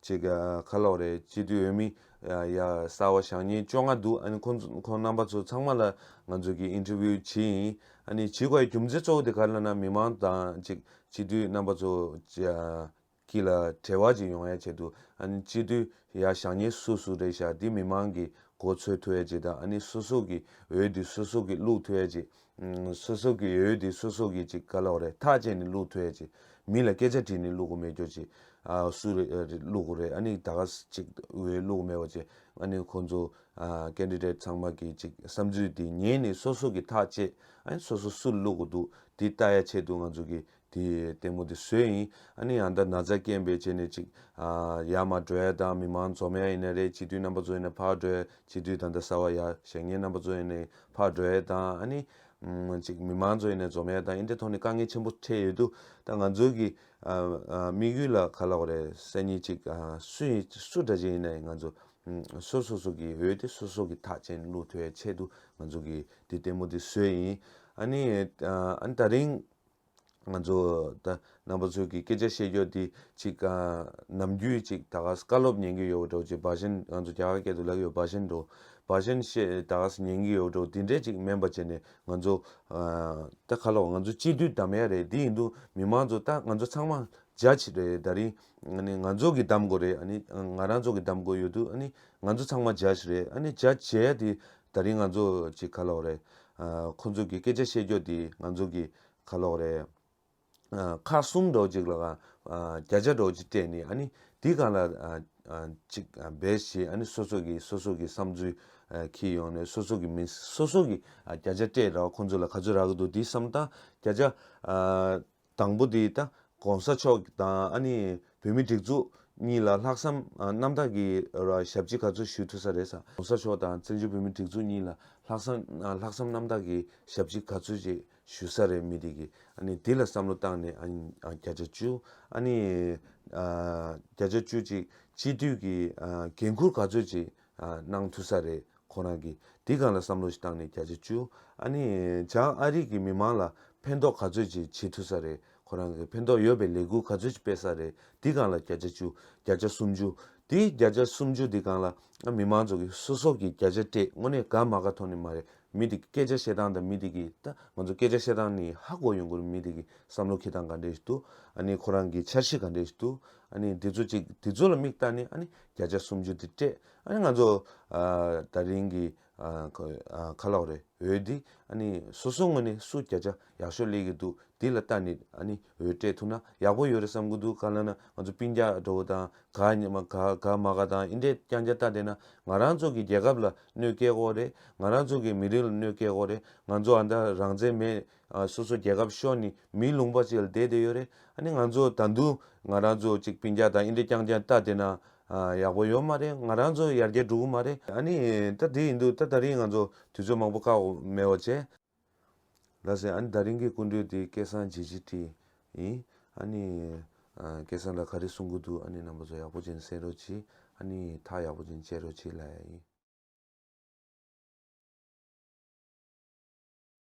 ཅིག་ཁ་ལོག་རེད་སྤྱི་མཐུས་འོས་མི། ཡ། གསར་བ་ཞག་གཉིས་བཅོ་ལྔ་འདུག་ཨ་ནི་ཁོ། ཁོང་རྣམ་པ་ཚོ་ཚང་མ་ལ་ང་ཚོས་ཀྱིས interview བྱེད་ཡིན། ཨ་ནི་བྱེད་དགོས་ཡ་རྒྱུ་མཚན་གཙོ་བོ་དེ་ག་ལ་ན་མི་མང་དང་ཅིག་སྤྱི་མཐུས་རྣམ་པ་ཚོ། ཀྱི་ལ་བྲེལ་བ་ཅིག་ཡོང་ཡ་བྱེད་འདུག་ཨ་ནི་སྤྱི་མཐུས། ཡ་ཞག་གཉིས་སུ་སུ་རེད་ཞག་འདི་མི་མང་གི་གོ་ཚོད་ཐུ་ཡ་བྱེད་དང་ཨ་ནི་སུ་སུ་ཀྱི་འོས་འདི་སུ་སུ་ཀྱི་བླུག་ཐུ་ཡ་བྱེད། སོ་སོ་གི་ཡོད་དེ་སོ་སོ་གིས་ཅིག་ག་ལོག་རེད་ཐག་བཅད་ནས་བླུག་ཐུ་ཡ་ཅིག་མི་ལ་སྐད་ཆ་དྲིས་ནས་བླུག་གོ་མེད་རྒྱོ་ཅིག་སུ་རེད་བླུག་གོ་རེད་ཨ་ནི་ད་ག་ཅིག་འོས་བླུག་མེད་བ་ཅིག་ཨ་ནི་ཁོང་ཚོ Candidate ཚང་མ་གིས་ཅིག་བསམ་ཚུལ་དེ་ཉན་ནས་སོ་སོ་གིས་ཐག་བཅད་ཨ་ནི་སོ་སོ་སུ་བླུག་གོ་འདུག་དེ་ལྟ་ཡ་ཆེད་དུ་ང་ཚོ་གིས་དེ་ལྟད་མོ་དེ་སུའི་ཡིན། ཨ་ནི་ཡང་ད་ན་ཚ་སྐྱེན་པའི་རྗེས་ནས་ཅིག། ཡ་མ་བྲོས་དང་མི་མང་འཛོ་མའི་ཡིན་ན་རེད་སྤྱི་འཐུས་རྣམ་པ་ཚོ་ཡིན་ན་ཕར་བྲོས་སྤྱི་འཐུས་དང་ད་ས་བ་ཡ་ཞེ་ངའི་རྣམ་པ་ཚོ་ཡིན་ནའི་ཕར་བྲོས་དང་ཨ་ནི། ཅིག་མི་མང་ཚོ་ཡིན་ནའི་འཛོ་མའི་དང་ཨིན་དེ་ཐོག་ནས་དཀའ་ངལ་ཆེན་པོ་འཕྲད་ཡོད་དུ་ད་ང་ཚོའི་གི། དམིགས་ཡུལ་ལ་ག་ལ་བ་རེད་སེ་ནི་ཅིག་སུ་ཡིན་སུ་འདྲ་ཅན་ཡིན་ནའི་ང་ཚོ། སོ་སོ་སོ་གི་འོས་དེ་སོ་སོ་གི་ཐག་ཅན་བླུག་ཐོའི་ཆེད་དུ་ང་ཚོ་གི་དེ་ལྟད་མོ་དེ་སུའི་ཡིན། ཨ་ནི། ཨ་ནི་ད་རིང། ང་ཚོ་རྣམ་པ་ཚོས་ཀྱི་སྐད་ཆ་བཤད་རྒྱུ་འདི་ཅིག་ནམ་རྒྱུན་ཅིག་ད་ག་ཟེ་བཀའ་སློབ་ཉན་གྱི་ཡོད་འགྲོ་ཅིག་བ་ཞན་ང་ཚོ་རྒྱ་གར་སྐད་དུ་ལབ་ཡོད་བ་ཞན་འགྲོ་བ་ཞན་བཤད་ད་ག་ཟེ་ཉན་གྱི་ཡོད་འགྲོ་འདི་འདྲས་ཅིག་མེན་པ་བྱས་ནས་ང་ཚོ་ད་ཁ་ལོ་ང་ཚོ་སྤྱི་འཐུས་གདམ་ཡ་རེད་འདི་ཡིན་དུ་མི་མང་ཚོ་ད་ང་ཚོ་ཚང་མ་རྒྱ་ཆེ་རེད་ད་རིང་ང་ཚོ་གྱི་གདམ་དགོས་རེད་ང་རང་ཚོ་གྱི་གདམ་དགོས་ཡོད་དུ་ང་ཚོ་ཚང་མ་རྒྱ་ཆེ་རེད་རྒྱ་ཆེ་ཡ་དེ་ད་རིང་ང་ཚོ་ཅིག་ཁ་ལོ་རེད་ཁོ་ཚོ་གི་སྐད་ཆ་བཤད་རྒྱོ་དེ་ང་ཚོ་གི་ཁ་ལོག་རེད། ཁ་གསུམ་སྒྲོག་གཅིག་ལ་གང་བརྒྱ་ཆ་སྒྲོག་གཅིག་སྤྲད་ནས་ཨ་ནི་དེ་གང་ལ་ཅིག་འབད་ཞེས་ཨ་ནི་སོ་སོ་གི་སོ་སོ་གི་བསམ་ཚུལ་ཁྱེར་ཡོང་ནས་སོ་སོ་གི་མིང་སོ་སོ་གི་བརྒྱ་ཆ་སྤྲད་ར་བ་ཁོ་ཚོ་ལ་ག་ཚོད་རག་གི་འདུག་དེ་བསམ་སྟངས་བརྒྱ་ཆ་དང་པོ་དེ་ད་གོང་ས་མཆོག་དང་བོད་མི་སྒྲིག་འཛུགས་གཉིས་ལ་ལྷག་བསམ་རྣམ་དག་གི་ཞབས་ཕྱི་ག་ཚོད་ཞུ་ཐུབ་ས་རེད་ས་གོང་ས་མཆོག་དང་བཙན་བྱོལ་བོད་མི་སྒྲིག་འཛུགས་གཉིས་ལ་ལྷག་བསམ་ལྷག་བསམ་རྣམ་དག་གི་ཞབས་ཕྱི་ག་ཚོད་ཅིག་ཞུ་ས་རེད་མི་དེ་གི་དེ་ལ་བསམ་བློ་བཏང་ནས་བརྒྱ་ཆ་བཅུ་བརྒྱ་ཆ་བཅུ་ཅིག་སྤྱི་འཐུས་ཀྱི་འགན་ཁུར་ག་ཚོད་ཅིག་གནང་ཐུབ་ས་རེད་ཁོ་རང་གིས་དེ་ག་ལ་བསམ་བློ་ཞིག་བཏང་ནས་བརྒྱ་ཆ་བཅུ་ཨ་ནི་བྱང་ཨ་རིག་གི་མི་མང་ལ་ཕན་ཐོག་ག་ཚོད་ཅིག་བྱེད་ཐུབ་ས་རེད་ཁོ་རང་གིས་ཕན་ཐོག་ཡོད་པའི་ལས་འགུལ་ག་ཚོད་ཅིག་སྤེལ་ས་རེད་དེ་གང་ལ་བརྒྱ་ཆ་བཅུ་བརྒྱ་ཆ་སུམ་ཅུ་དེ་བརྒྱ་ཆ་སུམ་ཅུ་དེ་གང་ལ་ཨ་མི་མང་ཚོ་གི་སོ་སོ་གིས་བརྒྱ་ཆ་སྤྲད་དངོས་གནས་དགའ་མ་ག་ཐོག་ནས་མ་རེད་མི་དེ་གི་སྐད་ཆ་བཤད་སྟངས་དང་མི་དེ་གི་ད་ང་ཚོ་སྐད་ཆ་བཤད་སྟངས་ནི་ཧ་གོ་ཡོང་དགོས་རེད་མི་དེ་གི་བསམ་བློ་འཁེལ་སྟངས་ག་འདྲས་ཞིག་འདུག་ཨ་ནི་ཁོ་རང་གི་འཆར་གཞི་ག་འདྲས་ཞིག་འདུག་ཨ་ནི་དེ་ཚོ་ཅིག་དེ་ཚོ་ལ་མིག་བལྟ་ནས་ཨ་ནི་བརྒྱ་ཆ་སུམ་ཅུ་དེ་སྤྲད་ཨ་ནི་ང་ཚོ་ད་རིང་གི་ཁ་ལོག་རེད་འོད་འདི་ཨ་ནི་སོ་སོ་ངོས་ནས་སུ་བརྒྱ་ཆ་ཡག་ཤོས་ལས་གི་འདུག་འདི་ལ་ལྟ་ནི་ཨ་ནི་འོད་སྤྲད་ཐུབ་ན་ཡག་པོ་ཡོད་རེད་བསམ་གི་འདུག་ག་ལ་ན་ང་ཚོ་སྤིན་རྒྱ་འགྲོ་བོ་དང་ག་ཉི་མ་ག་ག་མ་ག་དང་ཨིན་དྲས་ཀྱང་རྒྱ་ལྟ་བསྡད་ན་ང་རང་ཚོ་གི་རྒྱལ་ཁབ་ལ་གནོད་སྐྱེལ་དགོ་རེད་ང་རང་ཚོ་གི་མི་རིགས་ལ་གནོད་སྐྱེལ་དགོ་རེད་ང་ཚོ་ཨ་མདའ་རང་བཙན་མེད་སོ་སོ་རྒྱལ་ཁབ་ཤོར་ནས་མིའི་ལུང་པ་ཅིག་ལ་བསྡད་བསྡད་ཡོད་རེད་ཨ་ནི་ང་ཚོ་ད་དུང་ང་རང་ཚོ་ཅིག་པིན་རྒྱ་དང་ཨིན་རི་རྐྱང་རྐྱང་ལྟ་བསྡད་ན་ཡག་པོ་ཡོད་མ་རེད་ང་རང་ཚོ་ཡར་རྒྱས་འགྲོ་གི་མ་རེད་ཨ་ནི་ད་དེ་ཡིན་འདུག་ད་ད་རིང་ང་ཚོ་དུས་ཚོད་མང་པོ་བཀག་འོག་མེད་འོག་བྱས། ལ་ཟེར་ཨ་ནི་ད་རིང་གི་སྐུ་མགྲོན་དེ་སྐལ་བཟང་རྗེ་སྤྱི་བཀྲིས་ཡིན་ཨ་ནི་སྐལ་བཟང་ལ་ག་རེ་གསུང་གི་འདུག་ཨ་ནི་རྣམ་པ་ཚོ་ཡག་པོ་ཅན་གསན་རོགས་གྱིས་ཨ་ནི་ཐག་ཡག་པོ་ཅན་བཅད་རོགས་གྱིས་ལ་ཡ་ཡིན།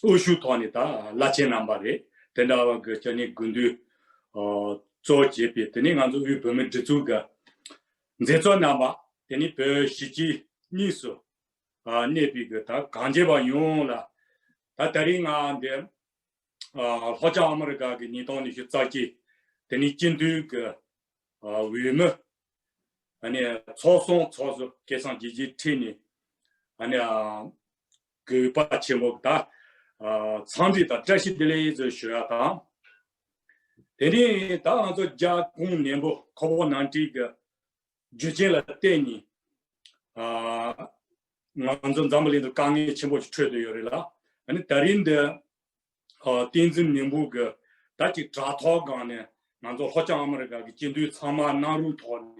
དབུ་བཞུགས་ཐོག་ནས་དང་བླ་ཆེན་རྣམ་པ་རེད་དེ་འདྲ་བ་གི་ཅི་ནས་དགུན་དུས་གཙོ་བོ་བྱས་པའི་དེ་ནས་ང་ཚོ་དབུས་བོད་མིའི་སྒྲིག་འཛུགས་ཀྱི་མཛད་གཙོ་རྣམ་པ་དེ་ནས་བོད་གཞིས་བྱེས་གཉིས་སུ་གནས་པའི་གི་ད་གང་རྒྱལ་བ་ཡོངས་ལ་ད་ད་རིང་ང་འདི་ལྷོ་བྱང་ཨ་མི་རི་ཀ་གི་ཉིས་སྟོང་ཉི་ཤུ་རྩ་གཅིག་དེ་ནས་སྤྱི་འཐུས་ཀྱི་འོས་མི་ཚོགས་སོང་ཚོགས་སུ་སྐད་གསང་ཇི་བཞིན་ཁྲིད་ནས་གུས་པ་ཆེན་པོ་དང། ཚངས་ཐིག་དང་བཀྲ་ཤིས་བདེ་ལེགས་ཡིད་རྩོལ་ཞུ་བ་དང། དེ་ནས་ད་ང་ཚོ་རྒྱ་གུང་ནན་པོ་ཁོ་བོ་ནང་བཀྲིས་ཀྱི་རྒྱུ་ཅན་ལ་བརྟེན་ནས། ང་ཚོ་འཛམ་བུ་གླིང་འདིར་དཀའ་ངལ་ཆེན་པོ་ཞིག་ཁྲོད་དུ་ཡོད་རེད་ལ། ད་རིང་འདིར་བསྟན་འཛིན་མིང་པོ་གི་ད་ཅིག་དྲ་ཐོག་སྒང་ནས་ང་ཚོ་ལྷོ་བྱང་ཨ་མ་རི་ཀ་གི་སྤྱི་འཐུས་ཚང་མ་གནང་རུང་ཐོག་ནས་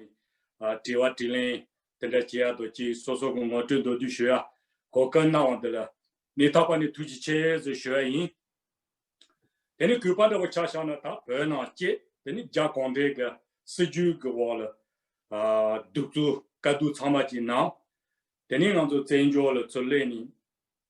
དྲི་བ་དྲི་ལན་དེ་འདྲ་བྱེད་ཡག་འདུག་ཅིག་སོ་སོ་གི་ངོ་སྤྲོད་མདོར་བསྡུས་ཞུ་ཡག་གོ་སྐབས་གནང་བ་འདི་ལ་མི་ཐག་པ་ནས་ཐུགས་རྗེ་ཆེ་ཟེར་ཞུ་ཡག་ཡིན། དེ་ནས་གུས་པ་འདྲ་བོ་ཆགས་ཤག་ན་ད་བོད་ནང་བཅས་དེ་ནས་རྒྱ་གོང་བྲལ་གི་སྲིད་བྱུས་གི་འོག་ལ་གདུག་རྩུབ་དཀའ་སྡུག་ཚང་མ་ཅིག་གནང་དེ་ནས་ང་ཚོ་བཙན་བྱོལ་ལ་ཚུར་སླེབས་ནས་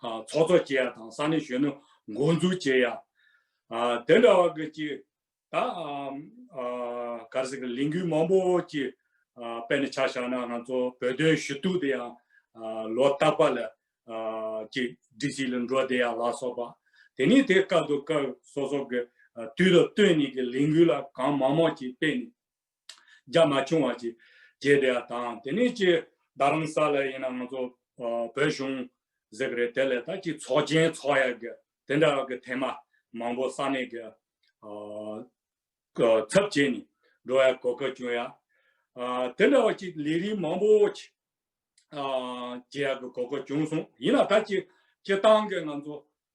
ཚོགས་གཙོ་བྱེད་ཡ་དང་ས་གནས་གཞོན་ནུ་འགོ་འཛུགས་བྱེད་ཡ། དེ་འདྲ་བ་གི་ཅིག་ད་གར་སིག་ལས་འགུལ་མང་པོ་ཅིག་དཔེ་ནས་ཆ་བཞག་ན་ང་ཚོ་བོད་དོན་ཞུ་གཏུག་དེ་ཡང་ལོ་རྟག་པ་ལ་ཅིག་སྒྲིག་གཞི་ལ་འགྲོ་བསྡད་ཡ་ལ་སོགས་པ། དེ་ནས་དེ་སྐབས་དུ་སྐབས་སོ་སོ་གི་དུས་ལ་ལྟོས་ནས་ཀྱི་ལས་འགུལ་ལ་གང་མང་མང་ཅིག་སྤེལ་ནས་རྒྱ་མ་ཆུང་བ་གཅིག་རྒྱས་དེ་དང་དེ་ནས་ཀྱི་རྡ་རམ་ས་ལ་ཡིན་ན་ང་ཚོ་བོད་གཞུང་ཟེར་གི་རེད་དེ་ལས་ད་ཀྱི་ཚོགས་ཆེན་ཚོགས་ཡ་གི་དེ་འདྲ་གི་ཐེངས་མ་མང་པོ་ས་གནས་གི་ཚབ་བྱས་ནས་འགྲོ་ཡ་གོ་གི་བྱུང་ཡ་དེ་འདྲ་བ་གཅིག་ལས་རིགས་མང་པོ་གཅིག་བྱེད་ཡ་གི་གོ་གི་བྱུང་སོང་ཡིན་ན་ད་ཀྱི་སྤྱི་བཏང་གི་ང་ཚོ་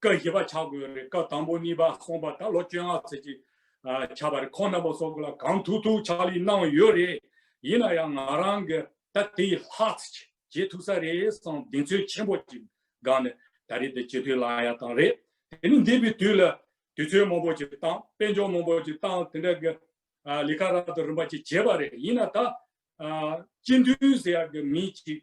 བཀའ་བཞི་པ་བྱ་དགོས་རེད་བཀའ་དང་པོ་གཉིས་པ་གསུངས་པ་ད་ལོ་བཅོ་ལྔ་ཚེས་གཅིག་བྱ་བ་རེད་ཁོང་རྣམ་པ་སོགས་ཀྱི་ལ་གང་ཐུག་ཐུག་ཕྱག་ལས་གནང་ཡོད་རེད་ཡིན་ན་ཡང་ང་རང་གི་ད་དེ་ལྷག་ཚེས་བྱེད་ཐུག་ས་རེད་བསམ་གདེང་ཚོད་ཆེན་པོ་ཅིག་སྒང་ནས་ད་རེས་དེ་བྱེད་ཐུག་ལ་ཡ་དང་རེད་དེ་ནི་འདས་པའི་དུས་ལ་དུས་ཚོད་མང་པོ་ཅིག་བཏང་དཔལ་འབྱོར་མང་པོ་ཅིག་བཏང་དེ་འདྲ་གི་ལས་ཀ་རག་ཏུ་རིམ་པ་ཅིག་བྱས་པ་རེད་ཡིན་ན་ད་སྤྱི་འཐུས་ཟེར་ཡག་གི་མི་ཅིག་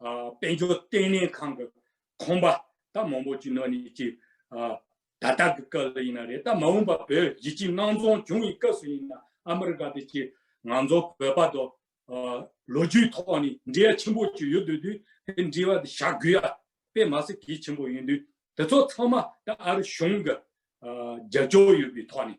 དཔལ་འབྱོར་ལྟེ་གནས་ཁང་གི་ཁང་པ་དང་མང་པོ་ཅི་ནོ་ནི་ཅི་ད་ལྟ་གི་སྐབས་ལ་ཡིན་ན་རེད་ད་མ་འོངས་པ་བོད་གཞིས་ཅི་སྣང་རྫོང་བྱུང་བའི་སྐབས་སུ་ཡིན་ན་ཨ་མི་རི་ཀ་དེ་ཅི་ང་ཚོ་བོད་པ་དང་ལོ་རྒྱུས་ཐོག་ནས་འབྲེལ་ཡ་ཆེན་པོ་ཅི་ཡོད་དུས་དུས་དེ་འབྲེལ་བ་དེ་བྱ་དགོས་ཡ་དཔེ་མ་ཟད་གལ་ཆེན་པོ་ཡིན་དུས་དེ་ཚོ་ཚང་མ་ད་ཨ་རི་གཞུང་གི་རྒྱབ་སྐྱོར་ཡོད་པའི་ཐོག་ནས་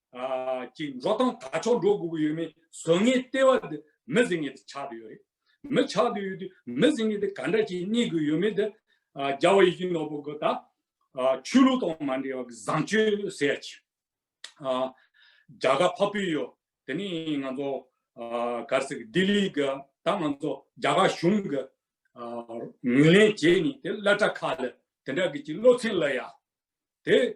ཀྱིས་འགྲོ་སྟངས་ད་ཆོག་འགྲོ་དགོས་ཀྱི་ཡོད་མེད་བཟོ་ངེས་ལྟེ་བ་དེ་མི་བཟི་ངེས་དེ་ཆགས་དུ་ཡོད་རེད། མི་ཆགས་དུ་ཡོད་དུས་མི་བཟི་ངེས་དེ་ག་འདྲ་ཞིག་རྙེད་དགོས་ཡོད་མེད་དེ། རྒྱ་བ་ཡི་གེ་ནོར་བུ་གི་ད། ཆོས་ལུགས་དང་མ་འབྲེལ་བ་གི་བཟང་སྤྱོད་ཟེར་ཡ་ཆེ། རྒྱ་གར་ཕ་བུ་ཡོད་དེ་ནི་ང་ཚོ། གར་སེ་ལྡི་ལི་གི་ད་ང་ཚོ་རྒྱ་གར་གཞུང་གི། ངོས་ལེན་བྱས་ནས་དེ་སླ་གྲྭ་ཁ་ལ་དེ་འདྲ་གི་ཅིག་སློབ་ཚན་སློད་ཡ། དེ།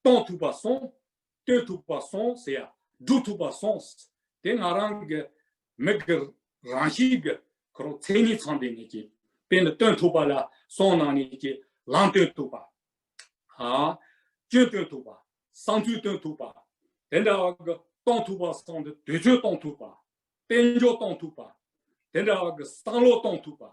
གཏོང་ཐུབ་པ་སོང། བསྟོད་ཐུབ་པ་སོང་ཟེར་ཡ་སྒྲུབ་ཐུབ་པ་སོང། དེ་ང་རང་གི་མིག་གི་རང་བཞིན་གྱི་ཁོ་རང་མཚན་ཉིད་ཚང་དེ་ནས་ཀྱི་དཔེ་འདི་སྟོན་ཐུབ་པ་ལ་སོང་ནང་ནས་ཀྱི་ལམ་སྟོན་ཐུབ་པ། སྐྱོན་སྟོན་ཐུབ་པ། བསམ་ཚུལ་སྟོན་ཐུབ་པ། དེ་འདྲ་བ་གི་གཏོང་ཐུབ་པ་སོང་དེ་དུས་ཚོད་གཏོང་ཐུབ་པ། དཔལ་འབྱོར་གཏོང་ཐུབ་པ། དེ་འདྲ་བ་གི་བསམ་བློ་གཏོང་ཐུབ་པ།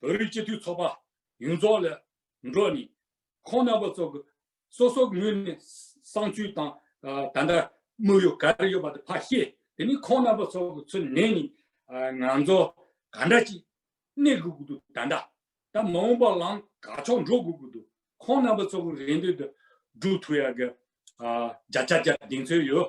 བོད་རིགས་སྤྱི་འཐུས་ཚོགས་པ་ཡོངས་རྫོགས་ལས་འགྲོ་ནས་ཁོང་རྣམ་པ་ཚོ་གི་སོ་སོ་ངོས་ནས་གསང་སྤྱོད་དང་ད་ལྟ་དམིགས་ཡུལ་ག་རེ་ཡོད་པ་དེ་ཕར་བཤད་དེ་ནས་ཁོང་རྣམ་པ་ཚོ་གི་ཚུར་ནས་ནས་ང་ཚོ་ག་འདྲ་ཅིག་གནས་དགོས་ཀྱི་འདུག་ད་འདྲ་ད་མ་འོངས་པ་ལའང་ག་ཕྱོགས་འགྲོ་དགོས་ཀྱི་འདུག་ཁོང་རྣམ་པ་ཚོ་གི་རེ་འདོད་དེ་སྒྲུབ་ཐུབ་ཡག་གི་རྒྱ་ཆ་རྒྱ་གདེང་ཚོད་ཡོད་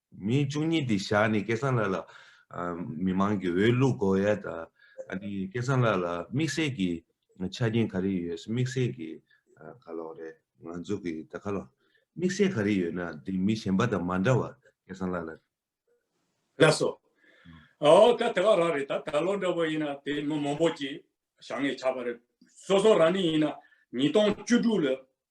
མི་བཅུ་གཉིས་དེ་བཞག་ནས་སྐལ་བཟང་ལགས་ལ། མི་མང་གི་འོས་བླུག་དགོས་ཡ་ད། སྐལ་བཟང་ལགས་ལ་དམིགས་བསལ་གྱི་ཆ་རྐྱེན་ག་རེ་ཡོད་དམིགས་བསལ་གྱི་ག་ལོག་རེད་ང་ཚོ་གི་ད་ག་ལོག་དམིགས་བསལ་ག་རེ་ཡོད་ན་དེ་མི་གཞན་པ་དང་མ་འདྲ་བ་སྐལ་བཟང་ལགས་ལ། ལགས་སོ། འོ་ད་དེ་ག་རག་རེད་ད་ད་ལོ་འདྲ་བ་ཡིན་ན་དེ་མི་མང་པོ་གྱིས་བཞག་ངས་ཆ་པ་རེད། སོ་སོ་རང་ནས་ཡིན་ན་ཉིས་སྟོང་བཅུ་དྲུག་ལ་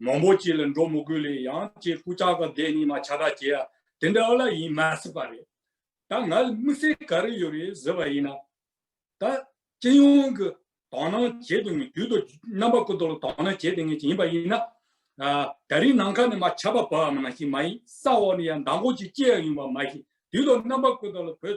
མང་པོ་བྱས་ལ་འགྲོ་མི་དགོས་ལེ་ཡང་ཅེས་སྐུ་ཕྱྭ་ག་བདེ་གཉིས་མ་ཕྱྭ་གྲགས་བྱས་ཡ་དེ་འདྲ་ལ་ཡིན་མ་སྲིད་པ་རེད། ད་ང་ལ་དམིགས་བསལ་ག་རེ་ཡོད་རེད་ཟེར་བ་ཡིན་ན། ད་སྤྱི་ཡོངས་ཀྱི་དག་སྣང་བྱེད་དེ་ངོས་རྒྱུད་དུ་རྣམ་པ་ཀུན་ཏུ་ལ་དག་སྣང་བྱེད་དེ་ངེས་ཅན་ཡིན་པ་ཡིན་ན། ད་རིང་ནམ་མཁའ་ནས་མ་ཁྱབ་པ་བབས་བམ་ནང་བཞིན་མ་ཡིན་ས་འོག་ནས་ཡང་མདང་དགོང་ཅིག་སྐྱེ་ཡ་ཡོང་བ་མ་ཤེས་དུས་ལ་རྣམ་པ་ཀུན་ཏུ་ལ་བོད་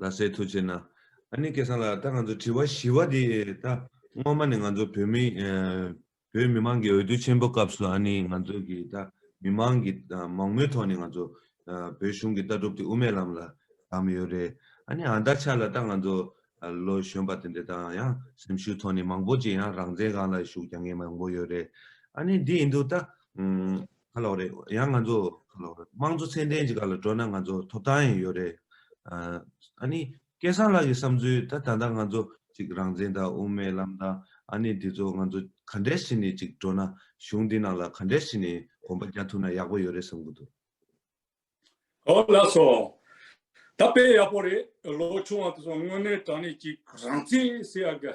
ལ་སའི་ཐུགས་ཆེ་ན། ཨ་ནི་སྐལ་བཟང་ལགས་ད་ང་ཚོ་དྲི་བ་བཞི་བ་དེ་ད་སྔོན་མ་ནས་ང་ཚོ་བོད་མི་བོད་མི་མང་གི་འོས་བསྡུ་ཆེན་པོ་སྐབས་སུ་ཨ་ནི་ང་ཚོ་གི་ད་མི་མང་གི་མང་མོས་ཐོག་ནས་ང་ཚོ་བོད་གཞུང་གི་ལྟ་གྲུབ་དེ་དབུ་མའི་ལམ་ལ་བདམས་ཡོད་རེད་ཨ་ནི་ཨ་ད་ཆ་ལ་ད་ང་ཚོ་ལོ་གཞོན་པ་དེ་འདྲ་དང་ཡང་སེམས་ཤུགས་ཐོག་ནས་མང་པོ་ཅིག་ཡང་རང་བཙན་གང་ལ་ཞུགས་རྒྱ་ངན་མང་པོ་ཡོད་རེད་ཨ་ནི་འདི་ཡིན་འདུག་ད། ཁ་ལོག་རེད་ཡང་ང་ཚོ་ཁ་ལོག་རེད་དམངས་གཙོ་ཚད་ལྡན་གྱི་ཁ་ལ་འགྲོ་ན་ང་ཚོ་ཐོབ་ཐང་ཡང་ཡོད་རེད། ཨ་ནི་སྐལ་བཟང་ལགས་ཀྱི་བསམ་ཚུལ་ད་ད་ལྟ་ང་ཚོ་ཅིག་རང་བཙན་དང་དབུ་མའི་ལམ་དང་ཨ་ནི་འདི་ཚོ་ང་ཚོ་ག་འདྲས་བྱས་ནས་ཅིག་འགྲོ་ན་གཞུང་འདི་ནང་ལ་ག་འདྲས་བྱས་ནས་གོམ་པ་རྒྱག་ཐུབ་ན་ཡག་པོ་ཡོད་རེད་བསམ་གི་འདུག། ཨོ་ལགས་སོ། ད་དཔེ་ཡག་པོ་རེད་ལོ་ཆུང་བ་དེ་ཚོ་དངོས་གནས་དྲང་གནས་ཅིག་རང་བཙན་ཟེར་ཡག་གི།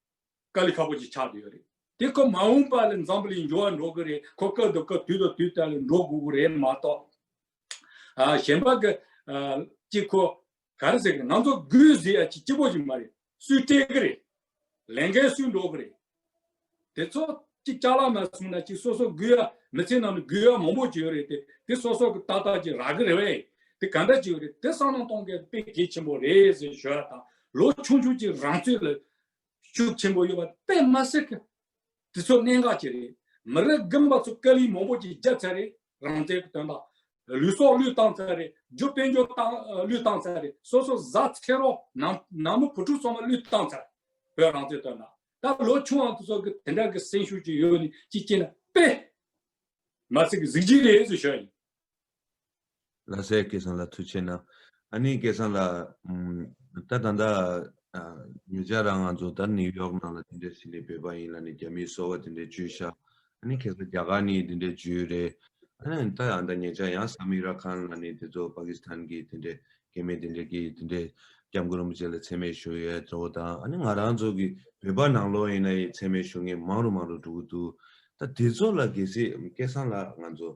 དཀའ་ལས་ཁག་པོ་ཅིག་ཆགས་འདོད་ཡོད་རེད། དེ་ཁོ་མ་འོངས་པ་ལ་འཛམ་བུ་གླིང་འགྱུར་བ་འགྲོ་གི་རེད། ཁོ་སྐབས་དང་སྐབས་དུས་དང་དུས་ལྟར་འགྲོ་དགོས་ཀྱི་རེད་མ་གཏོགས། གཞན་པ་གི་ཅིག་ཁོ་ག་རེ་ཟེར་གི་རེད། ང་ཚོ་སྒོས་ཟེར་ཡ་ཅིག་སྐྱིད་པོ་ཞིག་མ་རེད། སུས་སྤྲད་གི་རེད། ལས་འགན་སུས་འགྲོ་གི་རེད། དེ་ཚོ་ཅིག་ཅག་ལ་ནས་བཟུང་ན་ཅིག་སོ་སོ་སྒུལ་ཡ་མི་ཚེ་ནང་དུ་སྒུལ་ཡ་མང་པོ་ཅིག་ཡོད་རེད་དེ། དེ་སོ་སོ་གི་ཏག་ཏག་ཅིག་རག་གི་རེད། དེ་ག་འདྲ་ཅིག་ཡོད་རེད། དེ་བསམ་གནང་གཏོང་མཁན་དཔེ་དགེ་ཆེན་པོ་རེད་ཟེར་ཞུ་བ་དང་ལོ་ཆུང་ཆུང་གཅིག་རང་བཙོས་ལ་ཤུགས་ཆེན་པོ་ཡོད་པ་དཔེ་མ་ཟེར་གི། དེ་ཚོ་གནད་འགག་ཅིག་རེད། མི་རིགས་རྒན་པ་ཚོ་སྐད་ལུས་མང་པོ་ཅིག་རྒྱབ་ཚར་རེད་རང་བཙན་གྱི་དོན་དང། ལུས་སྲོག་བློས་བཏང་ཚར་རེད་རྒྱུ་དཔལ་འབྱོར་བློས་བཏང་ཚར་རེད་སོ་སོ་བཟའ་ཚེ་རོགས་ནང་མི་བུ་ཕྲུག་ཚང་མ་བློས་བཏང་ཚར། བོད་རང་བཙན་དོན་དང། ད་ལོ་ཆུང་བ་ཚོ་གི་དེ་འདྲ་གི་སེམས་ཤུགས་ཅིག་ཡོད་ནི་ཅིག་བསྐྱེད་ན་དཔེ་མ་ཟེར་གི་གཟིགས་ཀྱི་རེད་ཟེར་ཞོར་ཡིན། ལ་སའི་སྐད་གསང་ལ་ཐུག་ཆེ་ན་ཨ་ནིའི་སྐད་གསང་ལ། ད་ད་ལྟ་ཉེ་ཆར་རང་ང་ཚོ་ད་ནིའུ་ཡོག་ནང་ལ་དེ་འདྲའི་ཟིན་ནས་བོད་པ་ཡིན་ལ་ནི་རྒྱ་མིའི་སོ་བ་དེ་འདྲའི་བཅོས་ཤ་ཨ་ནི་ཁེ་སོ་རྒྱ་གར་ནི་དེ་འདྲའི་བཅོས་རེད་ཨ་ནི་ད་ཡང་ད་ཉེ་ཆར་ཡང་ས་མིག་ར་ཁན་ལ་ནི་དེ་ཚོ་པ་ཀི་སི་ཐན་གྱི་དེ་འདྲའི་སྐད་མེད་དེ་འདྲས་ཀྱིས་དེ་འདྲའི་སྐྱབས་མགོན་རིན་པོ་ཆེ་ལ་ཚད་མེད་ཞུ་ཡོད་གཙོ་བོ་དང་ཨ་ནི་ང་རང་ཚོ་གི་བོད་པ་ནང་ལོག་ཡིན་ན་ཡི་ཚད་མེད་ཞུ་ངེས་མང་རུ་མང་རུ་འགྲོ་གི་འདུག་ད་དེ་ཚོ་ལ་གལ་སྲིད་སྐད་གསང་ལ་ང་ཚོ།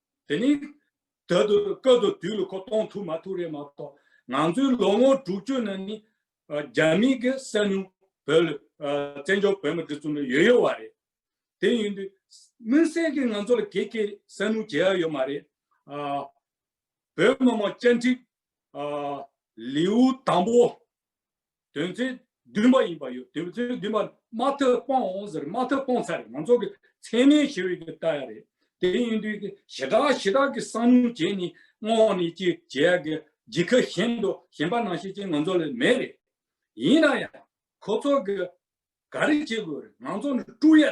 དེ་ནི་ད་དུ་སྐབས་དང་དུས་ལ་གོ་གཏོང་ཐུབ་མ་ཐུབ་རེད་མ་གཏོགས་ང་ཚོའི་ལོ་ངོ་དྲུག་ཅུ་ནང་ནི་རྒྱ་མིས་ཀྱི་གསལ་མྱོང་བོད་ལ་བཙན་བྱོལ་བོད་མི་འདི་ཚོ་ནི་ཡོད་ཡོད་བ་རེད། དེ་ཡིན་དུས་མུན་གསལ་གྱི་ང་ཚོ་ལ་གེགས་ཀྱི་གསལ་མྱོང་བྱེད་ཡ་ཡོད་མ་རེད། བོད་མི་མང་བཅའ་འདྲི་ལེའུ་དང་པོ་དོན་ཚན་བདུན་པ་ཡིན་པ་ཡོད་དོན་ཚན་བདུན་པ་མ་ཐོས་སྤང་འོང་ཟེར་མ་ཐོས་སྤོང་ཚར་རེད་མང་ཚོགས་ཀྱི་མཚན་མའི་ཞེ་འོད་ཀྱི་ལྟ་ཡ་རེད་དེ་ཡིན་དུས་ཀྱི་ཞེ་དྲག་ཞེ་དྲག་གི་བསམ་བློ་བྱས་ནས་སྔོག་ནས་ཅི་བྱེད་ཡག་གི་ཇི་ཁ་གཞན་དུ་གཞན་པ་ནང་བཤད་ཅན་ང་ཚོ་ལ་མེད་རེད་ཡིན་ན་ཡང་ཁོ་ཚོ་གི་ག་རེ་བྱེད་དགོས་རེད་མང་ཚོགས་ནས་དཀྲུག་ཡ་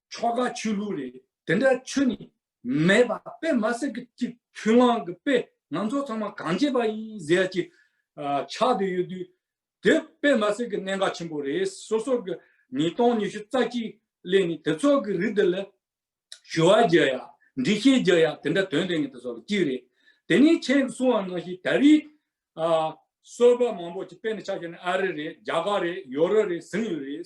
ཆོ་ག་ཆོས་ལུགས་རེད། དེ་འདྲ་ཆོས་ནི་མེད་པ་དཔེ་མ་སྲིད་ཀྱི་གཅིག་ཁྱོད་རང་གི་དཔེ་ང་ཚོ་ཚང་མ་གང་བྱེད་པ་ཡིན་ཟེར་གྱི་ཆགས་དུ་ཡོད་དུས་དེ་དཔེ་མ་སྲིད་ཀྱི་གནད་འགག་ཆེན་པོ་རེད་སོ་སོ་གི་ཉིས་སྟོང་ཉི་ཤུ་རྩ་གཅིག་གླེང་ནས་དེ་ཚོ་གི་རིགས་དེ་ལ་ཞུ་བ་རྒྱག་ཡ་འདྲི་ཤེས་རྒྱག་ཡ་དེ་འདྲ་དོན་དེ་ངེས་དེ་ཚོ་ལ་གཅིག་རེད་དེ་ནས་ཁྱེད་ཀྱི་གསུང་བ་ནང་བཞིན་ད་རེས་གསོལ་བ་མང་པོ་ཅིག་དཔེ་ནས་ཆགས་བྱས་ནས་ཨ་རི་རེད་རྒྱ་གར་རེད་ཡོ་རོབ་རེད་ཟིན་ཡོད་རེད།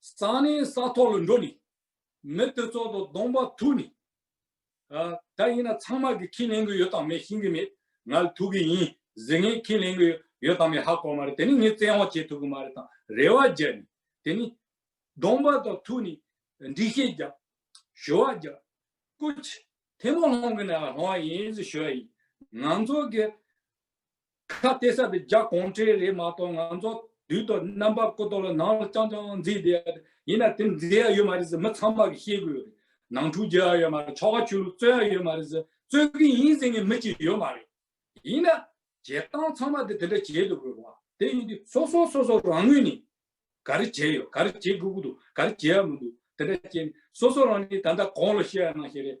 ས་ནི་ས་ཐོག་ལ་འགྲོ་ནི། མི་དེ་ཚོགས་དང་སྡོང་པ་ཐུག་ནི། ད་ཡིན་ན་ཚང་མ་གི་ཁས་ལེན་གི་ཡོད་དང་མེད་ཤིན་གི་མེད། ང་ལ་ཐུག་གི་ཡིན་ཟེར་ངས་ཁས་ལེན་གི་ཡོད་དང་མེད་ཧ་གོ་མ་རེད་དེ་ནི་ངས་བཙན་འོག་བྱེད་ཐུབ་གི་མ་རེད་དང་རེ་བ་རྒྱབ་ནི། དེ་ནི། སྡོང་པ་དང་ཐུག་ནི། འདྲི་ཤེས་རྒྱབ། ཞུ་བ་རྒྱབ། སྐུ། ཐེ་མོ་སློང་གི་ནའི་ལྷོང་བ་ཡིན་ཟེར་ཞུ་བ་ཡིན། ང་ཚོ་གི། ཁ་བལྟས་ས་དེ་རྒྱ་གོང་ཁྲེལ་རེད་མ་གཏོགས་ང་ཚོ་དུས་ཐོག་རྣམ་པ་ཀོ་ཏོ་ལ་ནང་ལ་རྐྱང་རྐྱང་འཛིན་བསྡད་ཡ་རེད་ཡིན་ན་དེ་འཛིན་ཡ་ཡོད་མ་རེད་ཟེར་མི་ཚང་མ་གི་ཤེས་དགོས་རེད་ནང་འཁྲུག་རྒྱག་ཡ་ཡོད་མ་རེད་ཆོ་ག་ཆོས་ལུགས་རྩོད་ཡ་ཡོད་མ་རེད་ཟེར་རྩོད་གི་ཡིན་ཟེར་མཁན་མི་གཅིག་ཡོད་མ་རེད་ཡིན་ན་བྱེད་སྟངས་ཚང་མ་དེ་དེ་འདྲ་བྱེད་དུ་དགོས་བ་དེ་ཡིན་དུས་སོ་སོ་སོ་སོ་རང་ངོས་ནས་ག་རེ་བྱས་ཡོད་ག་རེ་བྱེད་དགོས་ཀྱི་འདུག་ག་རེ་བྱས་ཡ་མི་འདུག་དེ་འདྲ་བྱས་ནས་སོ་སོ་རང་ནས་ད་ལྟ་གང་ལ་ཤེས་ཡ་གནང་ཤེས་རེད།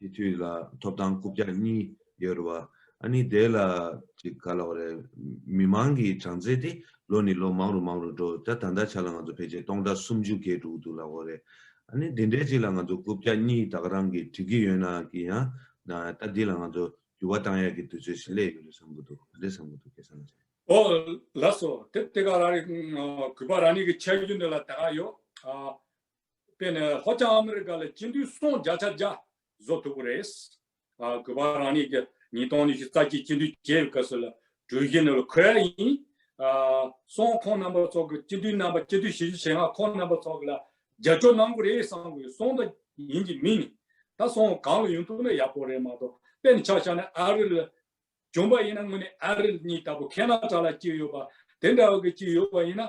དེ་དུས་ལ་ཐོབ་ཐང་རྐུབ་བཀྱག་གཉིས་ཡོད་རེད་བ། ཨ་ནི་དེ་ལ་ཅིག་ག་ལ་བ་རེད། མི་མང་གི་གྲངས་ཚད་དེ་ལོ་ནི་ལོ་མང་རུ་མང་རུ་འགྲོ་ད་ད་ལྟ་ཆ་ལ་ང་ཚོ་ཕལ་ཆེར་སྟོང་ཕྲག་སུམ་ཅུ་བརྒལ་འགྲོ་གི་འདུག་ལ་བ་རེད། ཨ་ནི་དེ་འདྲའི་ཅིག་ལ་ང་ཚོ་རྐུབ་བཀྱག་གཉིས་ད་ག་རང་གིས་བྲི་གི་ཡོད་ན་གི་ཡང་ན་ད་འདི་ལ་ང་ཚོ་འགྱུར་བ་བཏང་ཡག་གི་དུས་ཚོད་ཞིག་སླེབས་ཡོད་རེད་བསམ་གི་འདུག་ག་རེ་བསམ་གི་འདུག་ཁྱེད་བསམ་ཚེ། ཨོ། ལགས་སོ། དེབ་དེ་ག་རང་རེད། གུས་པ་རང་ཉིད་ཀྱི་འཆད་རྒྱུ་འདི་ལ་ད་ག་ཡོད། དེ་ནི་ཧོ་ཅང་ཨ་མི་རི་ཀ་ལ་སྤྱི་འཐུས་སོང་བརྒྱ་ཆ་བརྒྱ་བཟོ་ཐུབ་པ་རེད། གུས་པ་རང་ཉིད་ཀྱི་ཉིས་སྟོང་ཉི་ཤུ་རྩ་གཅིག་སྤྱི་འཐུས་བྱེད་པའི་སྐབས་སུ་ལ་གྲོས་གཞི་ནི་ལ་ཁོལ་ཡིན། སོང་ཁོང་རྣམ་པ་ཚོ་གི་སྤྱི་འཐུས་རྣམ་པ་སྤྱི་འཐུས་བཞི་ཅུ་ཞེ་ལྔ་ཁོང་རྣམ་པ་ཚོ་གི་ལ་རྒྱབ་སྐྱོར་གནང་དགོས་རེད་བསམ་དགོས་སོང་ད་ཡིན་གྱི་མིན་ནི་ད་སོང་གང་ལ་ཡོང་ཐུབ་ན་ཡག་པོ་རེད་མ་གཏོགས་དཔེ་ནི་ཆ་ཤ་ནི་ཨ་རི་ལ་བྱོན་པ་ཡིན་ན་དངོས་ནས་ཨ་རི་གཉིས་ལྟ་བུ་ཁེ་ན་ཏྲ་ལ་སྐྱིད་ཡོད་པ་དེ་འདྲ་བ་གི་སྐྱིད་ཡོད་པ་ཡིན་ན་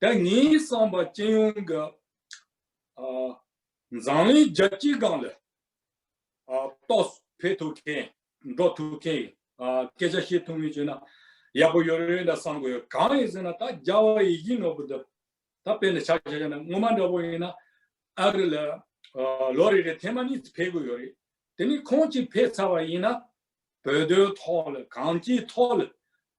དེ་ཉིན་བསམ་པ་སྤྱི་ཡོངས་ཀྱི་འཛམ་གླིང་རྒྱལ་སྤྱིའི་སྒང་ལ་རྟོགས་འཕེལ་ཐུབ་མཁན་འགྲོ་ཐུབ་མཁན་ཡིན། སྐད་ཆ་བཤད་ཐུབ་མིན་བྱས་ན་ཡག་པོ་ཡོད་རེད་འདྲ་བསམ་གི་ཡོད། གང་ཡིན་ཟེར་ན་ད་རྒྱ་བ་ཡིག་རྒྱུགས་ནོར་བུ་འདི་ད་དཔེ་ལ་ཆགས་བྱས་ན་སྔོན་མ་འདྲ་བོ་ཡིན་ན་ཨ་རི་ལ་ལོ་རེ་རེ་ཐེངས་མ་གཉིས་ཕེབས་གི་ཡོད་རེད། དེ་ནས་ཁོང་གཅིག་ཕེབས་ཚར་བ་ཡིན་ན་བོད་དོན་ཐོག་ལ་གང་ཅིའི་ཐོག་ལ་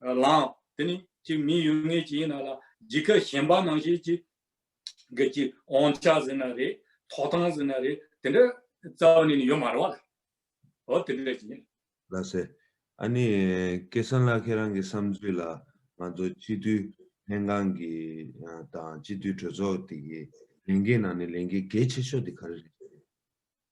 ལའང། དེ་ནི་གཅིག་མིན་ཡོད་ངེས་ཀྱི་ཡིན་ན་ལ་ཇི་ཁ་གཞན་པ་ནང་བཞིན་གྱི། གི་གཅིག་འོང་ཆ་ཟིན་ན་རེད་ཐོག་ཐང་ཟིན་ན་རེད་དེ་འདྲ་རྩ་བ་ནས་ནི་ཡོད་མ་རེད་བ་ལ། འོ་དེ་འདྲ་ཡིན། ལ་ཟེར། ཨ་ནི་སྐལ་བཟང་ལགས་ཁྱེད་རང་གི་བསམ་ཚུལ་ལ་ང་ཚོ་སྤྱི་མཐུས་ལྷན་ཁང་གི་དང་སྤྱི་མཐུས་གྲོས་ཚོགས་དེ་གི་ལས་འགན་ནང་ནས་ལས་འགན་གལ་ཆེ་ཤོས་དེ་ག་རེ་རེད།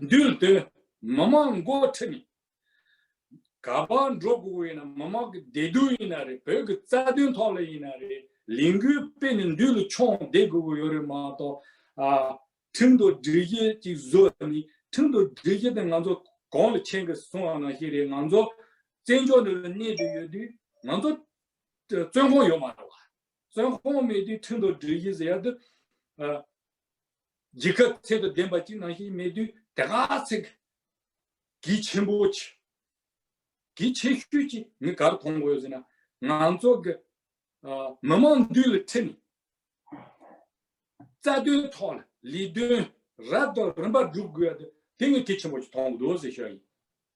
འདུལ་སྟོན་མི་དམངས་མགོ་ཁྲིད་ནས། ག་པར་འགྲོ་དགོས་ཡིན་ན་མི་དམངས་ཀྱི་བདེ་སྡུག་ཡིན་ན་རེད་བོད་ཀྱི་རྩ་དོན་ཐོག་ལ་ཡིན་ན་རེད་ལས་འགུལ་སྤེལ་ནས་འདུལ་ལ་ཆོངས་བསྡད་དགོས་ཀྱི་ཡོད་རེད་མ་གཏོགས། ཁྲིམས་དང་སྒྲིག་གཞི་ཅིག་བཟོས་ནས་ཁྲིམས་དང་སྒྲིག་གཞི་དེ་ང་ཚོ་གང་ལ་ཆེན་གི་སྲུང་བ་ང་ཞིག་རེད་ང་ཚོ་བཙན་བྱོལ་འདི་ལ་གནས་དུས་ཡོད་དུས་ང་ཚོ་བཙོན་ཁང་ཡོད་མ་རེད་བ། བཙོན་ཁང་མེད་དུས་ཁྲིམས་དང་སྒྲིག་གཞི་ཟེར་ཡག་དུས། རྒྱལ་ཁབ་ཚད་དུ་ལྡན་པ་གཅིག་ནང་བཞིན་མེད་དུས་དེ་ག་ཚེགས་ཀྱིས་ཆེན་པོ་ཆེ་གི་ཆེ་ཤོས་ཀྱི་མི་གར་མཐོང་དགོས་ཟེར་ན་ང་ཚོ་གི་མི་དམངས་འདུས་ལ་ཁྲིད་ནས་རྩ་དོན་ཐོག་ལ་ལས་དོན་རབ་དང་རིམ་པ་བསྒྲུབ་དགོས་ཡ་དེ་ངས་གལ་ཆེན་པོ་ཆེ་མཐོང་གི་འདུག་ཟེར་ཤོས་ཡིན།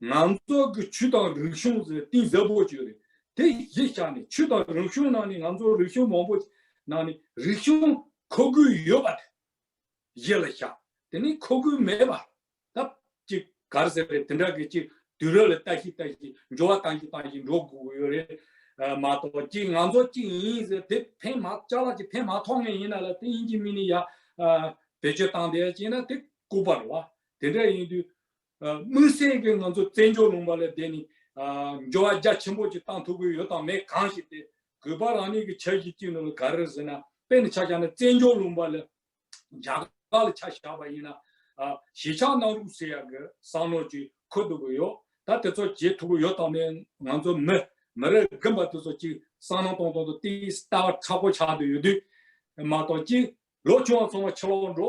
ང་ཚོ་གི་ཆོས་དང་རིག་གཞུང་ཟེར་བའི་གཏིང་ཟབ་པོ་ཅིག་རེད། དེ་གཞི་ཆགས་ནས་ཆོས་དང་རིག་གཞུང་ནང་ནས་ང་ཚོ་རིག་གཞུང་མང་པོ་ཞིག་ནང་ནས་རིག་གཞུང་མཁོ་དགོས་ཡོད་པ་དེ་གཞི་ལ་བཞག་དེ་ནས་མཁོ་དགོས་མེད་པ་ད་ཅིག་གར་ཟེར་བའི་དེ་འདྲ་གི་ཅིག་དུས་རབས་ལ་ལྟ་ཞིག་ལྟ་ཞིག་འགྱུར་བ་བཏང་ཞིག་བཏང་ཞིག་འགྲོ་དགོས་ཡོད་རེད་མ་གཏོགས་ཅིག་ང་ཚོ་ཅིག་ཡིན་ཟེར་དེ་ཕན་མ་བཅའ་བ་ཅིག་ཕན་མ་ཐོགས་ངེས་ཡིན་ན་ལ་དེ་ཡིན་གྱི་མིན་ནི་ཡ་བེད་སྤྱོད་བཏང་བསྡད་ཅིག་ན་དེ་ལྐུགས་པར་བ། དེ་འདྲ་ཡིན་དུས་དམིགས་བསལ་གྱིས་ང་ཚོ་བཙན་བྱོལ་ལུང་པ་ལ་བསྡད་ནས་འགྱུར་བ་རྒྱ་ཆེན་པོ་ཅིག་བཏང་ཐུབ་ཀྱི་ཡོད་དང་མེད་གང་ཞིག་དེ་གུས་པ་རང་ཉིད་ཀྱི་ཆ་བཞིན་གཅིག་ནོར་ལ་ག་རེ་ཟེར་ན་དཔེ་ནི་ཆ་བཞག་ན་བཙན་བྱོལ་ལུང་པ་ལ་རྒྱ་གར་ལ་ཆ་བཞག་པ་ཡིན་ན་གཞིས་ཆགས་གནང་རོགས་ཟེར་ཡག་གི་བསམ་བློ་ཅིག་འཁོར་ཐུབ་ཀྱི་ཡོད་ད་དེ་ཚོ་བྱེད་ཐུབ་ཀྱི་ཡོད་དང་མེད་ང་ཚོ་མི་མི་རེ་འགས་པ་དེ་ཚོ་ཅིག་བསམ་གནང་གཏོང་གཏོང་དུ་དེའི་ལྟ་བ་ཕྲག་པོ་ཆགས་འདོད་ཡོད་དུས་མ་གཏོགས་གཅིག་ལོ་ཆུང་བ་ཚང་མ་ཕྱི་ལོག་འགྲོ་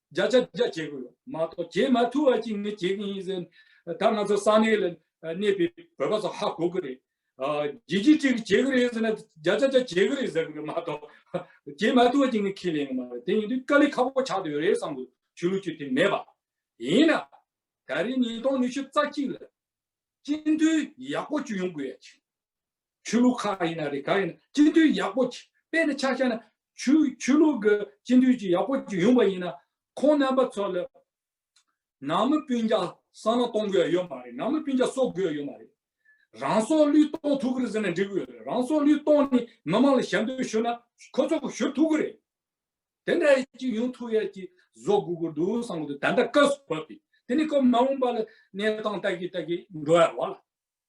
བརྒྱ་ཆ་བརྒྱ་བྱེད་དགོས་ལ་མ་གཏོགས་བྱེད་མ་ཐུབ་བ་ཅིག་ནི་བྱེད་ཀྱི་ཡིན་ཟེར། ད་ང་ཚོ་ས་གནས་ལ་གནས་པའི་བོད་པ་ཚོ་ཧ་གོ་གི་རེད། བརྒྱད་ཅུ་གཅིག་གིས་བྱེད་ཀྱི་རེད་ཟེར་ན་བརྒྱ་ཆ་བརྒྱ་བྱེད་ཀྱི་རེད་ཟེར་གི་རེད་མ་གཏོགས་བྱེད་མ་ཐུབ་བ་ཅིག་ནི་ཁས་ལེན་གི་མ་རེད་དེ་ཡིན་དུས་དཀའ་ལས་ཁག་པོ་ཆགས་དུས་རེད་བསམ་དགོས་ཆོས་ལུགས་ཀྱི་དེ་མེད་པ། ཡིན་ན། ད་རེས་ཉིས་སྟོང་ཉི་ཤུ་རྩ་གཅིག་ལ་སྤྱི་འཐུས་ཡག་པོ་བཅུ་ཡོང་དགོས་ཡ་ཆེ། ཆོས་ལུགས་ཁག་ཡིན་ན་རིགས་ཁག་ཡིན་ན་སྤྱི་འཐུས་ཡག་པོ་དཔེ་དེ་ཆགས་ཆགས་ན་ཆོས་ལུགས་ཀྱི་སྤྱི་འཐུས་ཀྱི་ཡག་པོ་ཡོང་པ་ཡིན་ན་ཁོང་རྣམ་པ་ཚོ་ལ་ནང་མི་སྤུན་རྒྱ་གསང་ན་གཏོང་དགོས་ཡོད་མ་རེད་ནང་མི་སྤུན་རྒྱ་གསོ་དགོས་ཡོད་མ་རེད་རང་སྲོག་བླུས་གཏོང་ཐུབ་ཀི་རེད་ཟེར་ན་འགྲིག་གི་ཡོད་རེད་རང་སྲོག་བླུས་གཏོང་ནི་མི་དམངས་ལ་ཞབས་འདེགས་ཞུ་ན་ཁོ་ཚོ་གི་ཞུ་ཐུབ་ཀི་རེད་དེ་འདྲ་ཡི་གཅིག་ཡོང་ཐུབ་ཡ་གཅིག་བཟོ་དགོས་ཀི་འདུག་བསམ་གི་འདུག་ད་ལྟ་བཀའ་ཟུར་བབས་པས་དེ་ནི་ཁོ་མ་འོངས་པ་ལ་གནས་སྟངས་ལྟ་གི་ལྟ་གི་འགྲོ་ཡ་རོགས་ལ།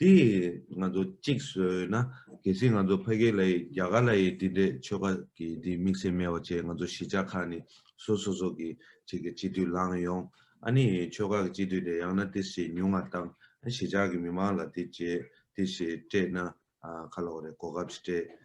དེ་ང་ཚོ་གཅིག་བཟོས་ན་གལ་སྲིད་ང་ཚོ་ཕ་གི་ལ་ཡི་རྒྱ་གར་ལ་ཡི་དེ་འདྲའི་ཆོལ་ཁ་གི་དེ་དམིགས་བསལ་མེད་པ་བཅས་ང་ཚོ་གཞིས་ཆགས་ཁག་ནི་སོ་སོ་སོ་གི་ཆེད་ཀྱི་སྤྱི་འཐུས་ལངས་ཡོང་ཨ་ནི་ཆོལ་ཁ་གི་སྤྱི་འཐུས་དེ་ཡང་ན་དེ་བཞིན་ཉུང་བ་དང་གཞིས་ཆགས་ཀྱི་མི་མང་ལ་དེ་བྱེད་དེ་བྱེད་སྤྲད་ན་ཁ་ལོག་རེད་གོ་སྐབས་སྤྲད།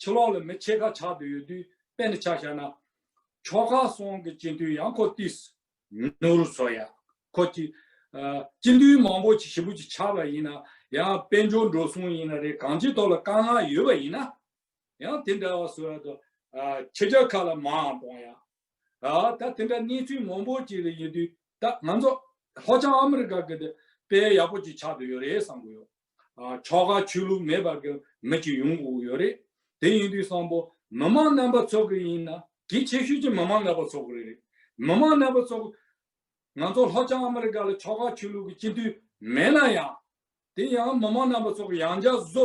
ཕྱི་ལོགས་ལ་མི་ཕྱེད་ཀ་ཆགས་འདོད་ཡོད་དུས་པད་འདི་ཆ་བཞག་ན། ཕྱོགས་ཁག་གསུམ་གྱི་སྤྱི་འཐུས་ཡང་ཁོ་ཏིས། ནོར་བུ་སོགས་ཡང་ཁོ་ཏི། སྤྱི་འཐུས་མང་པོ་ཞིག་ཞི་བུ་ཅིག་ཆགས་པ་ཡིན་ན་ཡང་དཔལ་འབྱོར་འགྲོ་སོང་ཡིན་ན་རེད་གང་ཅིའི་ཐོག་ལ་དཀའ་ངལ་ཡོད་པ་ཡིན་ན། ཡང་དེ་འདྲ་བ་བཟོས་ཡོད་དོ། ཁྱེད་ཅག་ཁ་ལ་མའང་གཏོང་ཡང་ད་དེ་འདྲ་གནས་ཚུལ་མང་པོ་ཅིག་རེ་ཡོད་དུས་ད་ང་ཚོ་ལྷོ་བྱང་ཨ་མི་རི་ཀ་གི་དེ་དཔེ་ཡག་པོ་ཅིག་ཆགས་འདོད་ཡོད་རེད་བསམ་གི་ཡོད། ཕྱོགས་ཁག་ཆོས་ལུགས་མེད་པར་གི་མི་ཅིག་ཡོང་དགོས་ཀྱི་ཡོད་རེད། དེ་ཡིན་དུས་བསམ་པོ་མི་དམངས་རྣམ་པ་ཚོགས་གི་ཡིན་ན་གལ་ཆེ་ཤོས་ཀྱི་མི་དམངས་རྣམ་པ་ཚོགས་གི་རེད། མི་དམངས་རྣམ་པ་ཚོགས་ང་ཚོ་ལྷོ་བྱང་ཨ་མི་རི་ཀ་ལ་ཕྱོགས་ཁག་ཆོས་ལུགས་གི་སྤྱི་འཐུས་མེད་ན་ཡང། དེ་ཡང་མི་དམངས་རྣམ་པ་ཚོགས་ཡང་འཇགས་བཟོ་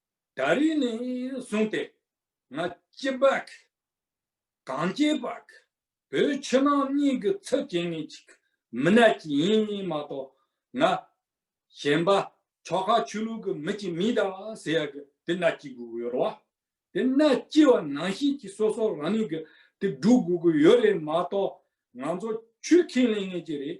ད་རེས་ནས་བཟུང་སྟེ་ང་སྐྱིད་པག་གངས་སྐྱིད་པག་བོད་ཕྱི་ནང་གཉིས་ཀྱི་ཚབ་བྱེད་མཁན་གཅིག་མི་སྣ་གཅིག་ཡིན་མ་གཏོགས་ང་གཞན་པ་ཕྱོགས་ཁག་ཆོས་ལུགས་ཀྱི་མི་གཅིག་མིན་ད་ཟེར་ཡག་གི་དེ་སྣ་གཅིག་དགོས་ཀྱི་ཡོད་རེད་བ། དེ་སྣ་གཅིག་བ་ནང་བཞིན་གྱི་སོ་སོ་རང་ཉིད་ཀྱི་དེ་སྒྲུབ་དགོས་ཀྱི་ཡོད་རེད་མ་གཏོགས་ང་ཚོ་ཆོས་ཁས་ལེན་མཁན་གཅིག་རེད་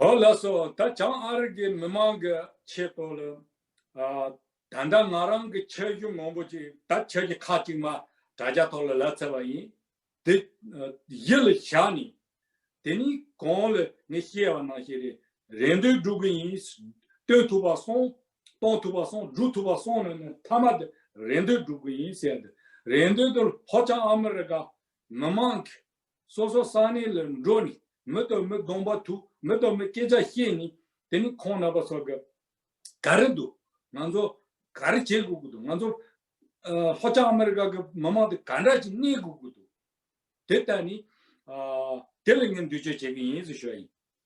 གང་ལགས་སོ། ད་བྱང་ཨ་རི་གའི་མི་མང་གི་ཆེད་དོ་ལ། ད་ལྟ་ང་རང་གི་ཁྱད་གཞུང་མང་པོ་ཅིག་ད་ཁྱེད་ཀྱི་ཁ་ཅིག་མ་དྲ་རྒྱ་ཐོག་ལ་ལབ་ཚར་བ་ཡིན། དེ་ཡིད་ལ་བཞག་ནས། དེ་ནི་གང་ལ་ངས་བཤད་བ་ནང་བཞིན་རེད། རེ་འདོད་སྒྲུབ་གི་ཡིན། སྟོན་ཐུབ་པ་སོང། གཏོང་ཐུབ་པ་སོང་སྒྲུབ་ཐུབ་པ་སོང་ནས་ནི་མཐའ་མ་དེ་རེ་འདོད་སྒྲུབ་གི་ཡིན་ཟེར་ཏེ། རེ་འདོད་དེ་ལྷོ་བྱང་ཨ་མི་རི་ཀ་མི་མང་གི་སོ་སོ་གསང་གནས་ལ་འགྲོ་ནས་མི་དང་མི་སྡོང་པ་ཐུག་མི་དང་མི་སྐད་ཆ་བཤད་ནས་དེ་ནས་ཁོང་རྣམ་པ་ཚོ་ག་རེ་འདུག་ང་ཚོ་ག་རེ་བྱེད་དགོས་ཀྱི་འདུག་ང་ཚོ་ལྷོ་བྱང་ཨ་མེ་རི་ཁ་གི་མི་དམངས་དེ་ག་འདྲ་ཅིག་གནས་དགོས་ཀྱི་འདུག་དེ་ལྟ་ནས་དེ་ལ་ངས་འདུས་སྤྱོད་བྱེད་ཀྱི་ཡིན་ཟེར་ཞུ་བ་ཡིན།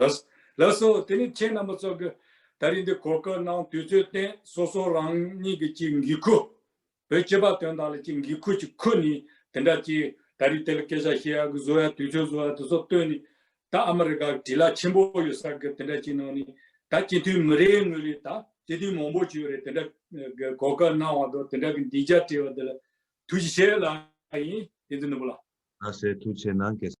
ལ། ལ་སོགས་དེ་ནི་མཁྱེན་རྣམ་པ་སྩོལ་དགོས། ད་རིང་འདི་གོ་སྐབས་གནང་དུས་ཚོད་བརྟེན་སོ་སོ་རང་ཉིད་ཀྱི་གཅིག་འགི་ཁུ། བོད་སྤྱི་བ་དོན་དག་ལ་གཅིག་འགི་ཁུ་གཅིག་ཁུ་ནི་དེ་འདྲ་གཅིག་ད་རིང་དེ་ལ་སྐད་ཆ་བཤད་ཡག་གི་བཟོ་ཡག་དུས་ཚོད་བཟོ་ཡག་དེ་སོགས་བཏོན་ནི་ད་ཨ་མ་རི་ཀ་གི་དྲི་ལ་ཆེན་པོ་ཡོད་ས་གི་དེ་འདྲ་གཅིག་གནང་ནི་ད་སྤྱི་འཐུས་མི་རེ་ངོས་རེ་ད་སྤྱི་འཐུས་མང་པོ་བྱོས་རེ་དེ་འདྲ་གི་གོ་སྐབས་གནང་བ་དང་དེ་འདྲ་གི་འདི་འཇགས་བྲིས་བ་དེ་ལ་ཐུགས་རྗེ་ཆེ་ལགས་ཡིན་དེ་ཚོ་ནུ་བོ་ལགས། ལ་སེ་ཐུགས་ཆེ་གནང་གལ།